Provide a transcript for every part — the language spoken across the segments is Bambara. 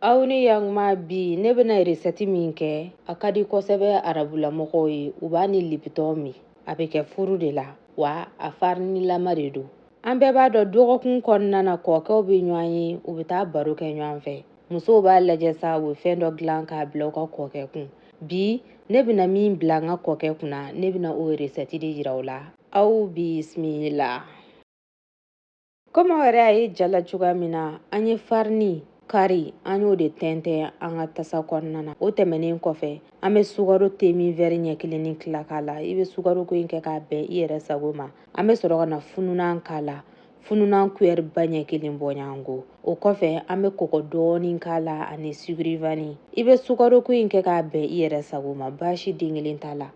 aw ni yanguma bi ne bɛna resɛti min kɛ a ka di kosɛbɛ arabulamɔgɔw ye u b'a ni lipitɔn min a bɛ kɛ furu de la wa a farinilama de don an bɛɛ b'a dɔn dɔgɔkun kɔnɔna na kɔɔkɛw bɛ ɲɔgɔn ye u bɛ taa baro kɛ ɲɔgɔn fɛ musow b'a lajɛ sa u bɛ fɛn dɔ dilan k'a bila u ka kɔɔkɛ kun bi ne bɛna min bila n ka kɔɔkɛ kunna ne bɛna o resɛti de yira aw la aw bisimila komi aw yɛrɛ y'a ye ja la cogoya min na an ye farini kari an y'o de tɛntɛn an ka tasa kɔnɔna na o tɛmɛnen kɔfɛ an bɛ sukaro temin wɛri ɲɛ kelen ni tila k'a la i bɛ sukaro ko in kɛ k'a bɛn i yɛrɛ sago ma an bɛ sɔrɔ ka na fununan k'a la fununan kuyɛri ba ɲɛ kelen bɔɲɔgɔnko o kɔfɛ an bɛ kɔgɔ dɔɔnin k'a la ani sugurivani i bɛ sukaro ko in kɛ k'a bɛn i yɛrɛ sago ma baasi den kelen t'a la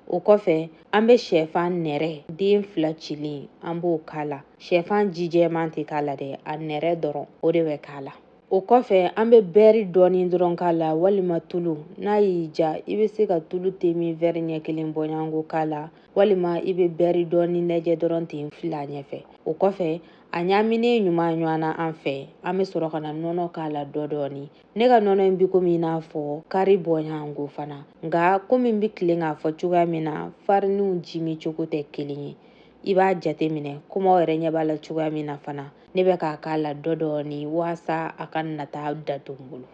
o kɔfɛ an bɛ shɛfan nɛrɛ den fila cilen an b'o k'a la shɛfan jijɛman tɛ k'a la dɛ a nɛrɛ dɔrɔn o de bɛ k'a la o kɔfɛ an bɛ bɛɛri dɔɔni dɔrɔn k'a la walima tulu n'a y'i diya i bɛ se ka tulu temin vɛri ɲɛ kelen bɔɲɔgɔnko k'a la walima i bɛ bɛɛri dɔɔni lajɛ dɔrɔn ten fili a ɲɛfɛ o kɔfɛ a ɲaaminen ɲuman ɲɔgɔn na an fɛ an bɛ sɔrɔ ka na nɔnɔ k'a la dɔ dɔɔni ne ka nɔnɔ in bi komi i n'a fɔ kari bɔɲɔgɔnko fana nka komi n bi tilen k'a fɔ cogoya min na fariniw ji min cogo tɛ kelen ye i b'a jate minɛ komi aw yɛrɛ ɲɛ b'a la cogoya min na fana ne bɛ k'a k'a la dɔ dɔɔni waasa a kana taa dato n bolo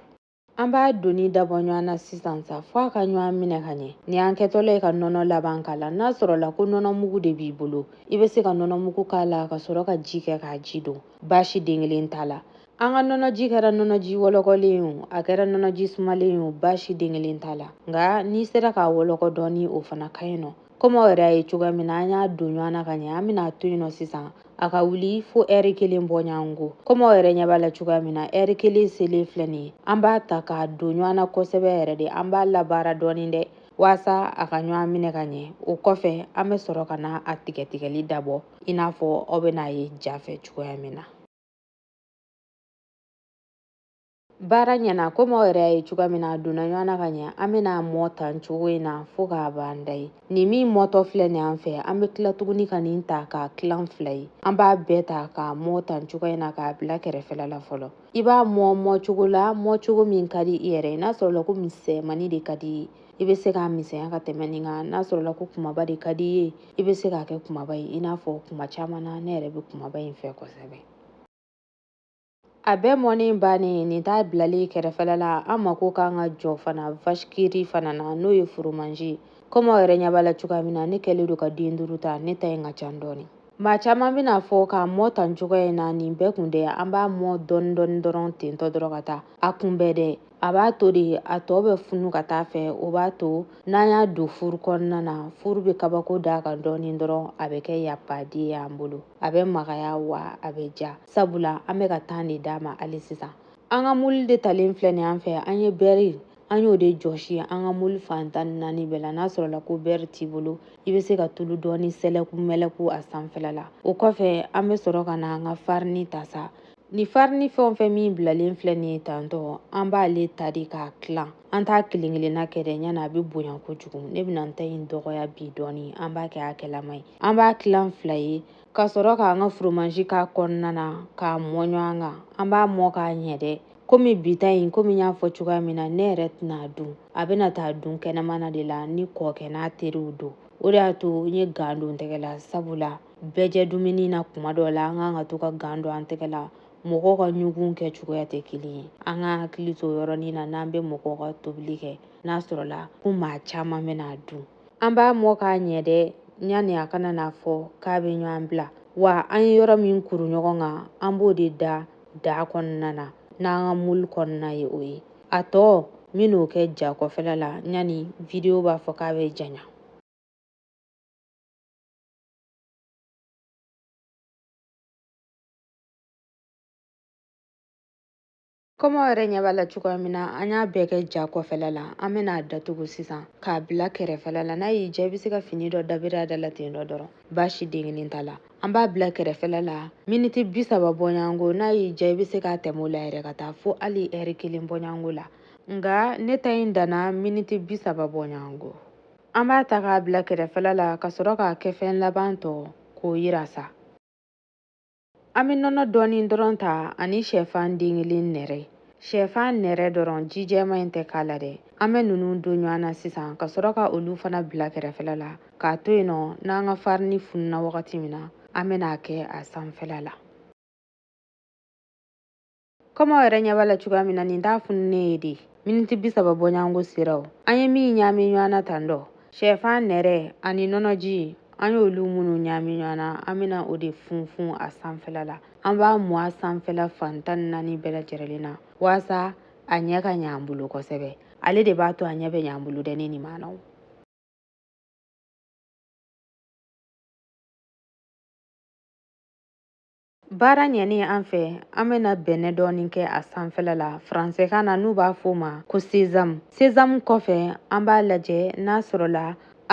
an b'a donni dabɔ ɲɔgɔn na sisan sa fo a ka ɲɔgɔn minɛ ka ɲɛ ni an kɛtɔla ye ka nɔnɔ laban k'a la n'a sɔrɔla ko nɔnɔ mugu de b'i bolo i bɛ se ka nɔnɔ mugu k'a la ka sɔrɔ ka ji kɛ k'a ji don baasi den kelen t'a la An ka nɔnɔji kɛra nɔnɔji wɔlɔkɔlen ye o, a kɛra nɔnɔji sumalen ye o, baasi den kelen t'a la. Nka n'i sera k'a wɔlɔkɔ dɔɔni, o fana ka ɲi nɔ. Komi aw yɛrɛ y'a ye cogoya min na, an y'a don ɲɔgɔn na ka ɲɛ, an bɛna a to yen nɔ sisan, a ka wuli fo ɛri kelen bɔɲɔgɔnko. Komi aw yɛrɛ ɲɛ b'a la cogoya min na, ɛri kelen selen filɛ nin ye, an b'a ta k'a don ɲɔgɔn na kosɛbɛ yɛrɛ de, an b'a labaara dɔɔni dɛ, waasa a ka ɲɔgɔn minɛ ka ɲɛ. O kɔfɛ, an bɛ sɔrɔ ka na a tigɛtigɛli dabɔ, i n'a fɔ aw bɛna a ye ja fɛ cogoya min na. baara ɲɛna komi aw yɛrɛ y'a ye cogoya min na a donna ɲɔgɔn na ka ɲɛ an bɛna a mɔ tan cogo in na fo k'a ban da ye nin min mɔtɔ filɛ nin an fɛ an bɛ tila tuguni ka nin ta k'a tilan fila ye an b'a bɛɛ ta k'a mɔ tan cogoya in na k'a bila kɛrɛfɛla la fɔlɔ i b'a mɔ mɔ cogo la mɔ cogo min ka di i yɛrɛ ye n'a sɔrɔla ko misɛnmannin de ka di i bɛ se k'a misɛnya ka tɛmɛ nin kan n'a sɔrɔla ko kumaba de ka di i ye i bɛ se k'a kɛ kumaba ye i n'a fɔ kuma caman na ne yɛrɛ bɛ kumaba in fɛ kosɛbɛ a bɛɛ mɔni bannen nin t'a bilali kɛrɛfɛla la an mako ka kan ka jɔ fana vashikiri fana na n'o ye foromazi ye komi aw yɛrɛ ɲɛ b'a la cogoya min na ne kɛlen don ka den duuru ta ne ta in ka can dɔɔni maa caman bɛna a fɔ k'a mɔ tan cogoya in na nin bɛɛ kun dɛ an b'a mɔ dɔɔni dɔɔni dɔrɔn tentɔ dɔrɔn ka taa a kun bɛɛ dɛ a b'a to de a tɔ bɛ funu ka taa a fɛ o b'a to n'an y'a don furu kɔnɔna na furu bɛ kabako da a kan dɔɔnin dɔrɔn a bɛ kɛ yapade ye an bolo a bɛ magaya wa a bɛ diya sabula an bɛ ka tan de d'a ma hali sisan an ka muli de talen filɛ nin an fɛ an ye bɛri an y'o de jɔsi an ka muli fan tan ni naani bɛɛ la n'a sɔrɔla ko bɛri t'i bolo i bɛ se ka tulu dɔɔni sɛlɛku mɛlɛku a sanfɛla la o kɔfɛ an bɛ sɔrɔ ka na an ka farini ta sa Ni farini fɛn o fɛn min bilalen filɛ nin ye tantɔ an b'ale ta de k'a tilan an t'a kelen kelenna kɛ dɛ yanni a bɛ bonya kojugu ne bɛna n ta in dɔgɔya bi dɔɔni an b'a kɛ hakɛlama ye an b'a tilan fila ye ka sɔrɔ k'an ka foromazi k'a kɔnɔna na k'a mɔ ɲɔgɔn kan an b'a mɔ k'a ɲɛ dɛ komi bi ta in komi n y'a fɔ cogoya min na ne yɛrɛ tɛna a dun a bɛna taa dun kɛnɛmana de la ne kɔɔkɛ n'a teriw don o de y'a to n ye gan don n tɛgɛ la sabula bɛɛjɛ dumuni na kuma dɔ la an ka kan ka to ka gan don an tɛgɛ la mɔgɔw ka ɲugun kɛ cogoya tɛ kelen ye an k'an hakili to yɔrɔ nin na n'an bɛ mɔgɔw ka tobili kɛ n'a sɔrɔla ko maa caman bɛna a dun an b'a mɔ k'a ɲɛ dɛ yanni a kana n'a fɔ k'a bɛ ɲɔgɔn bila wa an ye yɔrɔ min kuru ɲɔgɔn kan an b'o de da daa kɔnɔna na n'an ka muli kɔnɔna ye o ye a tɔ n bɛn'o kɛ ja kɔfɛla la yanni video b'a fɔ k'a bɛ janya Komi aw yɛrɛ ɲɛ b'a la cogoya min na an y'a bɛɛ kɛ ja kɔfɛla la an bɛna a datugu sisan k'a bila kɛrɛfɛla la n'a y'i diya i bɛ se ka fini dɔ dabiri a da la ten dɔ dɔrɔn baasi denkelen t'a la an b'a bila kɛrɛfɛla la miniti bi saba bɔɲɔgɔnko n'a y'i diya i bɛ se ka tɛmɛ o la yɛrɛ ka taa fo hali ɛri kelen bɔɲɔgɔnko la nka ne ta in danna miniti bi saba bɔɲɔgɔnko An b'a ta k'a bila kɛrɛfɛla la ka sɔrɔ k'a kɛfɛn laban tɔ k'o yira sa. An bɛ nɔnɔ dɔɔnin dɔrɔn ta ani shɛfan den kelen nɛrɛ. Shɛfan nɛrɛ dɔrɔn ji jɛman in tɛ k'a la dɛ. An bɛ ninnu don ɲɔgɔn na sisan ka sɔrɔ ka olu fana bila kɛrɛfɛla la k'a to yen nɔ n'an ka farini fununa wagati min na an bɛna a kɛ a sanfɛla la. kɔmi aw yɛrɛ ɲɛ b'a la cogoya min na nin t'a fununen ye dɛ miniti bi saba bɔɲɔgɔnko sera o an ye min ɲaami ɲɔgɔn na tan dɔ sɛfan nɛrɛ ani nɔnɔji an y'olu minnu ɲaami ɲɔgɔn na an bɛna o de funfun a sanfɛla la an b'a mun a sanfɛla fan tan ni naani bɛɛ lajɛrɛlen na waasa a ɲɛ ka ɲɛ an bolo kosɛbɛ ale de b'a to a ɲɛ bɛ ɲɛ an bolo dɛ ne nimaanaw Baara ɲɛnen an fɛ an bɛna bɛnɛ dɔɔni kɛ a sanfɛla la faransɛkan na n'u b'a f'o ma ko sezamu sezamu kɔfɛ an b'a lajɛ n'a sɔrɔla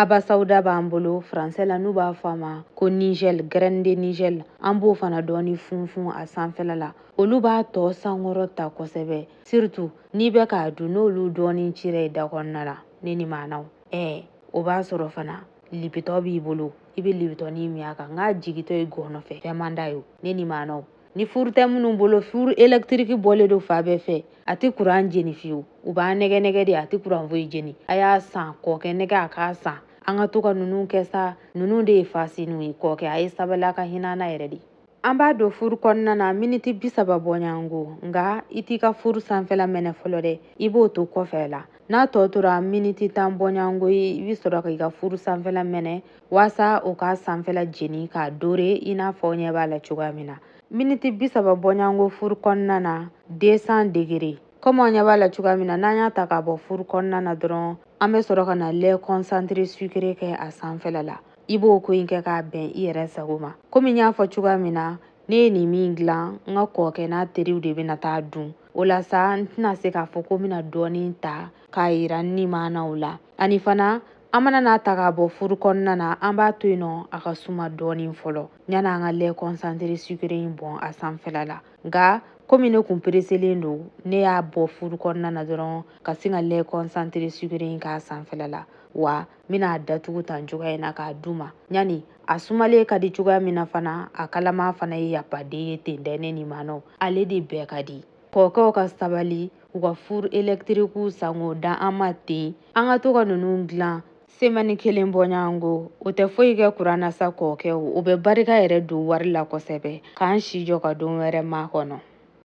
abasawuda b'an bolo faransɛ la n'u b'a fɔ a ma ko nigɛl grɛne de nigɛl an b'o fana dɔɔni funfun a sanfɛla la olu b'a tɔ sankɔrɔta kosɛbɛ siritu n'i bɛ k'a dun n'olu dɔɔni cira i da kɔnɔna la ne nimaanaw ɛɛ o b'a sɔrɔ fana lipitɔn b'i bolo i bɛ libitɔnin min a kan nk'a jigitɔ i gɔnɔ fɛ fɛn man d'a ye ne nimaanaw ni furu tɛ minnu bolo furu elektiriki bɔlen don fan bɛɛ fɛ a tɛ kuran jeni fiyewu u b'a nɛgɛn nɛgɛn de a tɛ kuran foyi jeni a y'a san kɔkɛ nɛgɛn a k'a san an ka to ka ninnu kɛ sa ninnu de ye fasiniw ye kɔkɛ a ye sabali a ka hinɛ an na yɛrɛ de an b'a don furu kɔnɔna na miniti bi saba bɔɲɔgɔnko nka i t'i ka furu sanfɛla mɛnɛ fɔlɔ dɛ i b'o to kɔfɛ la n'a tɔ tora miniti tan bɔɲɔgɔnko ye i bɛ sɔrɔ k'i ka furu sanfɛla mɛnɛ waasa o k'a sanfɛla jeni k'a dore i n'a fɔ aw ɲɛ b'a la cogoya min na miniti bi saba bɔɲɔgɔnko furu kɔnɔna na 200 degere kɔmi aw ɲɛ b'a la cogoya min na n'an y'a ta k'a bɔ furu kɔnɔna na dɔrɔn an bɛ sɔrɔ ka na lɛ kɔnsantire sukere kɛ a sanfɛla la i b'o ko in kɛ k'a bɛn i yɛrɛ sago ma komi n y'a fɔ cogoya min na ne ye nin min dilan n ka kɔɔkɛ n'a teriw de bɛna t'a dun o la sa n tɛna se k'a fɔ ko n bɛna dɔɔnin ta k'a yira n nimaanaw la ani fana an mana n'a ta k'a bɔ furu kɔnɔna na an b'a to yen nɔ a ka suma dɔɔnin fɔlɔ yanni an ka lɛ kɔnsantere sukere in bɔn a sanfɛla la nka komi ne kun pereselen don ne y'a bɔ furu kɔnɔna na dɔrɔn ka sin ka lɛ kɔnsantere sukere in k'a sanfɛla la wa n bɛna a datugu tan cogoya in na k'a d'u ma yanni a sumalen ka di cogoya min na fana a kalama fana ye yapaden ye ten dɛ ne nimaanaw ale de bɛɛ ka di kɔkɛw ka sabali u ka furu elekitirikiw san k'o d'an ma ten an ka to ka ninnu dilan semɛni kelen bɔɲɔgɔnko o tɛ foyi kɛ kuran na sa kɔkɛw o bɛ barika yɛrɛ don wari la kosɛbɛ k'an si jɔ ka don wɛrɛ makɔnɔ